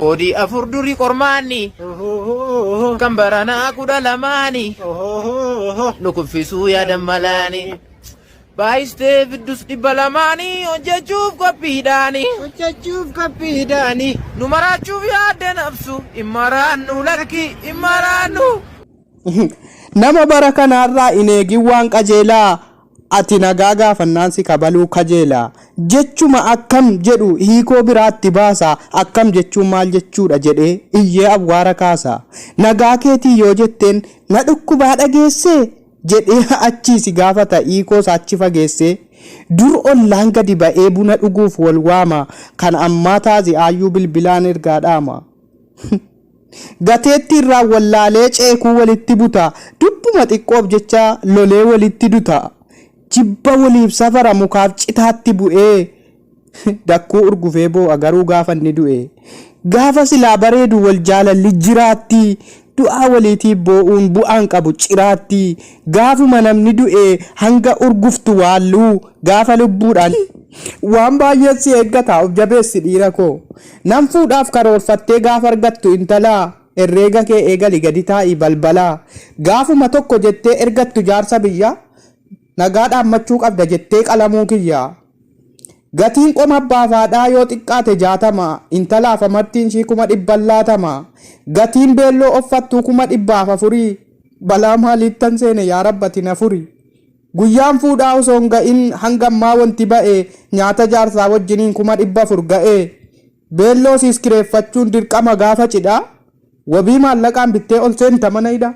Koodii afur duri qormaanni. Kan baranaa kudha lamaani. Nu kuffisuu yaadan malaani. Baay'istee fiddus dhibba lamaani. Hojjechuuf qophiidhaani. Hojjechuuf qophiidhaani. Nu maraachuuf yaadde nafsu. Hin maraannu lakki hin maraannu. Nama bara kanaarraa hin eegin waan qajeelaa. Ati nagaa gaafannaan si kabaluu kajeela. Jechuma akkam jedhu hiikoo biraa itti baasa. Akkam jechuun maal jechuudha jedhee iyyee awwaara kaasa. Nagaa keetii yoo jetteen na dhukkubaa dhageessee? jedhee achii si gaafata hiikoo isaa achi fageessee. Dur ollaan gadi ba'ee buna dhuguuf wal waama. Kan ammaa taazi'aayyuu bilbilaan ergaa dhaama. Gateetti irraa wallaalee ceekuu walitti buta Dubbuma xiqqoof jecha lolee walitti duta Jibba waliif safara mukaaf citaatti bu'ee Dakkuu urgufee boo'a garuu gaafa inni du'e Gaafa silaa bareedu wal jaalalli jiraatti Du'aa waliitiif boo'uun bu'aan qabu ciraatti Gaafuma namni du'e hanga urguftu waalluu Gaafa lubbuudhaan waan baay'eet si eeggata of jabeessi dhiira koo. Nan fuudhaaf karoorfattee gaafa argattu intala Herreega kee eegali gadi taa'i balbala Gaafuma tokko jettee ergattu jaarsa biyya Nagaa dhaammachuu qabda jettee qalamuu kiyya Gatiin qoma abbaaf haadhaa yoo xiqqaate jaatama Intalaaf amartiin ishii kuma dhibban laatama Gatiin beelloo offattuu kuma dhibbaaf afuri Balaa maaliittan seene yaa rabb ati na furi. Guyyaan fuudhaa osoo hin ga'in hanga ammaa wanti ba'e nyaata jaarsaa wajjiniin 400,000 ga'e. Beelloo siis kireeffachuun dirqama gaafa cidhaa wabii maallaqaan bittee ol seenta mana hidhaa.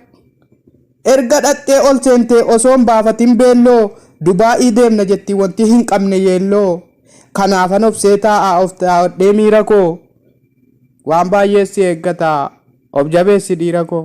Erga dhaqxee ol seentee osoo hin baafatin beelloo Dubaa'ii deemna jetti wanti hin qabne yeelloo. Kanaafan obsee taa'aa of taa'adhee miira koo. Waan baay'ee si eeggata of jabeessi dhiira koo.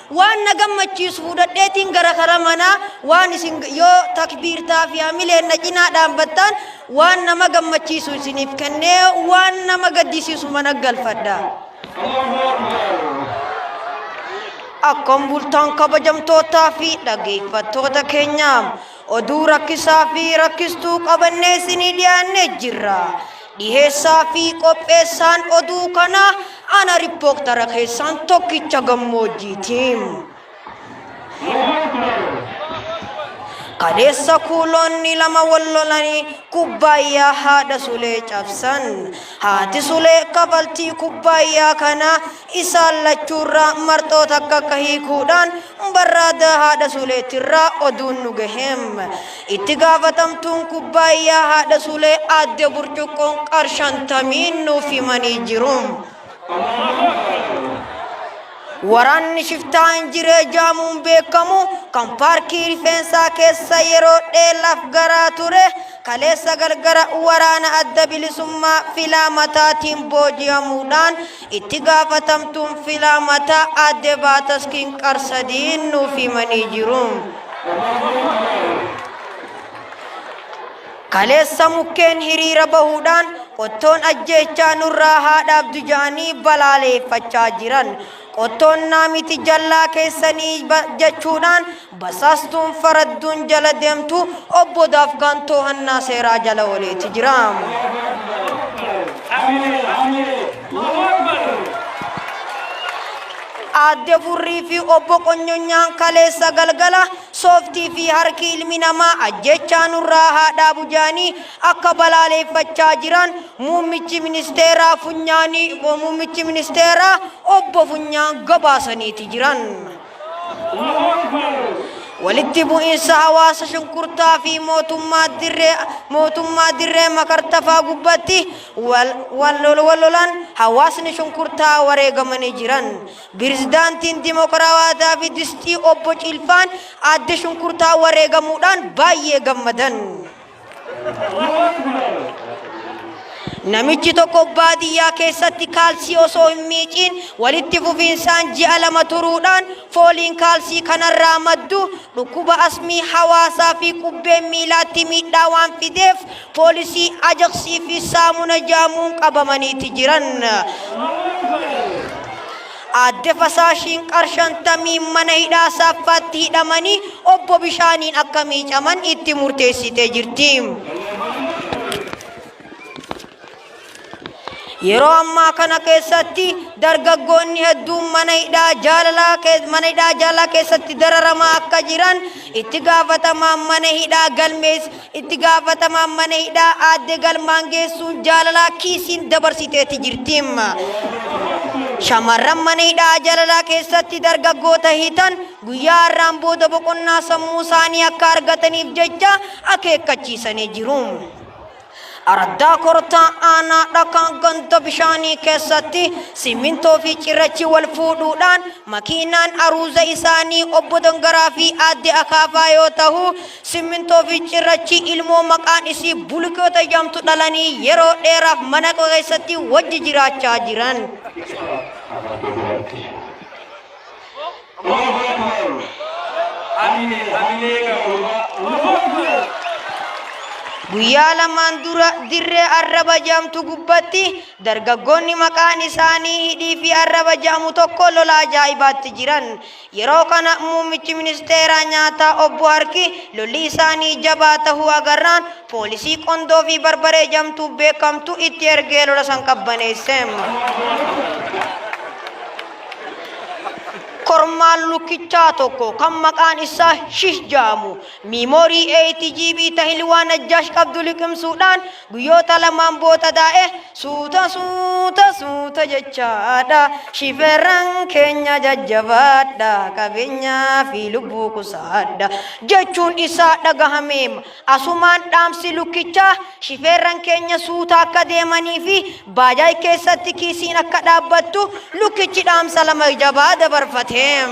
Waan na gammachiisu fudhadheetiin gara kara manaa waan isin yoo takbiirtaa fi hamileen na cinaa dhaabbattaan waan nama gammachiisu isiniif kennee waan nama gaddisiisu mana galfadha. Akkam bultaan kabajamtootaa fi dhageeffattoota keenyaa. Oduu rakkisaa fi rakkistuu qabannee isinii dhiyaannee jirra. Dhiheessaa fi qopheessaan oduu kanaa ana rippooktara keessaan tokkicha gammoojjiitiim. Kaleessa kuuloonni lama wal lolanii kubbaayyaa haadha sulee cabsan. Haati sulee kafaltii kubbaayyaa kana Isaan lachuurraa marxoo takka akka hiikuudhaan barraadaa haadha Suleetirraa oduun nu gaheem. Itti gaafatamtuun kubbaayyaa haadha Sulee aadde burcuqqoon qarshantamiin nuuf himanii jiru. Waraanni shiftaa injiree jaamuun beekamu kan paarkii rifeensaa keessa yeroo dheelaaf garaa ture kaleessa galgara waraana adda bilisummaa filaa mataatiin booji'amuudhaan Itti gaafatamtuun filaamataa Aadde Baataskiin Qarsadiin nuuf himanii jiru. Kaleessa mukkeen hiriira bahuudhaan qottoon ajjeechaa nurraa haa dhaabdu jedhanii balaaleeffachaa jiran. Qottoon naamiti jallaa keessanii jechuudhaan Basaastuun faradduun jala deemtu obbo Daafgaan toohannaa seeraa jala ooleeti jira. Aadde Furrii fi obbo Qonyonyaan kaleessa galgala sooftii fi harki ilmi namaa ajjechaa nurraa haa dhaabu jedhanii akka balaaleeffachaa jiran muummichi ministeeraa funyaanii muummichi ministeeraa obbo Funyaan gabaasaniiti jiran. Walitti bu'iinsa hawaasa shunkurtaa fi mootummaa dirree mootummaa dirree makartafaa gubbatti wal wal lolan hawaasni shunkurtaa wareegamanii jiran. Pirezidaantiin Dimokiraawaa Daawit Distii obbo Ciilfaan adde shunkurtaa wareegamuudhaan baay'ee gammadan. Namichi tokko baadiyyaa keessatti kaalsii osoo hin miiciin walitti fufiinsaan ji'a lama turuudhaan fooliin kaalsii kanarraa maddu dhukkuba asmii hawaasaa fi qubbeen miilaatti miidhaa waan fideef poolisii ajaksii fi saamuna jaamuun qabamaniiti jiran. Aadde Fasaashiin qar 50n mana hidhaa Saaffaatti hidhamanii obbo Bishaaniin akka miicaman itti murteessitee jirti. Yeroo ammaa kana keessatti dargaggoonni hedduun mana hidhaa jaalalaa kee- mana hidhaa jaalalaa keessatti dararamaa akka jiran itti gaafatamaan mana hidhaa galmees Itti gaafatamaan mana hidhaa aadde galmaan geessuun jaalalaa kiisiin dabarsiteeti jirti. Shamarran mana hidhaa jaalalaa keessatti dargaggoota hitan guyyaa har'aan booda boqonnaa sammuu isaanii akka argataniif jecha akeekkachiisanii jiru. Araddaa kortaa aanaa dhakaan ganda bishaanii keessatti simmintoo fi cirrachi wal fuudhuudhaan makiinaan aruuza isaanii obbo Dangaraa fi aadde Akaafaa yoo ta'u Simmintoo fi cirrachii ilmoo maqaan isii bulikeeta jedhamtu dhalanii yeroo dheeraaf mana koo keessatti wajji jiraachaa jiran. Guyyaa lamaan dura dirree arraba jedhamtu gubbatti dargaggoonni maqaan isaanii Hidhii fi Arraba jedhamu tokko lola ajaa'ibaatti jiran. Yeroo kana muummichi ministeeraa nyaataa obbo Harki lolli isaanii jabaa tahuu agarraan poolisii qondoo fi barbaree jamtuu beekamtu itti ergee lola san qabbaneesse. Kormaan lukkichaa tokko kan maqaan isaa Shih ja'amu miimoorii 8 GB tahilwaa Najjaash qabdu liqimsuudhaan Guyyoota lamaan boota daa'e suuta suuta suuta jechaadha shifeerran keenya jajjabaadha qabeenyaa fi lubbuu qusaadha jechuun isaa dhagahameem asumaan dhaamsi lukkichaa shifeerran keenya suuta akka deemanii fi baajaaj keessatti kiisiin akka dhaabbattu lukkichi dhaamsa lama jabaa dabarfateem.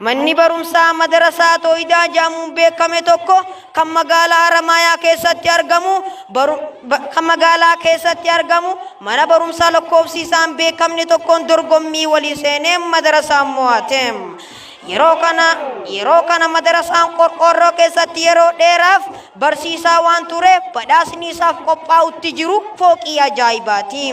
Manni barumsaa Madarasaa Tooyidaa jedhamuun beekame tokko kan magaalaa Haramaayaa keessatti argamu baru, ba, kan magaalaa keessatti argamu mana barumsaa lakkoofsi isaan beekamne tokkoon dorgommii walii seenee madarasaan mo'ate. Yeroo kana yeroo kana madarasaan qorqoorroo keessatti yeroo dheeraaf barsiisaa waan tureef badhaasni isaaf qophaa'utti jiru fooqii ajaa'ibaati.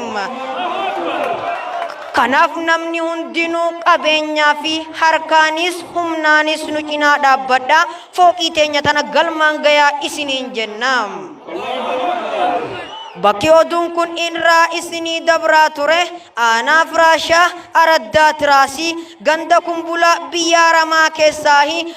Kanaaf namni hundinuu qabeenyaa fi harkaanis humnaanis nu cinaa dhaabbadhaa fooqii teenya tana galmaan gayaa isiniin jenna. Bakki oduun kun irraa isinii dabraa ture aanaa Firaashaa Araddaa Tiraasii ganda Kumbulaa biyyaa Ramaa keessaahi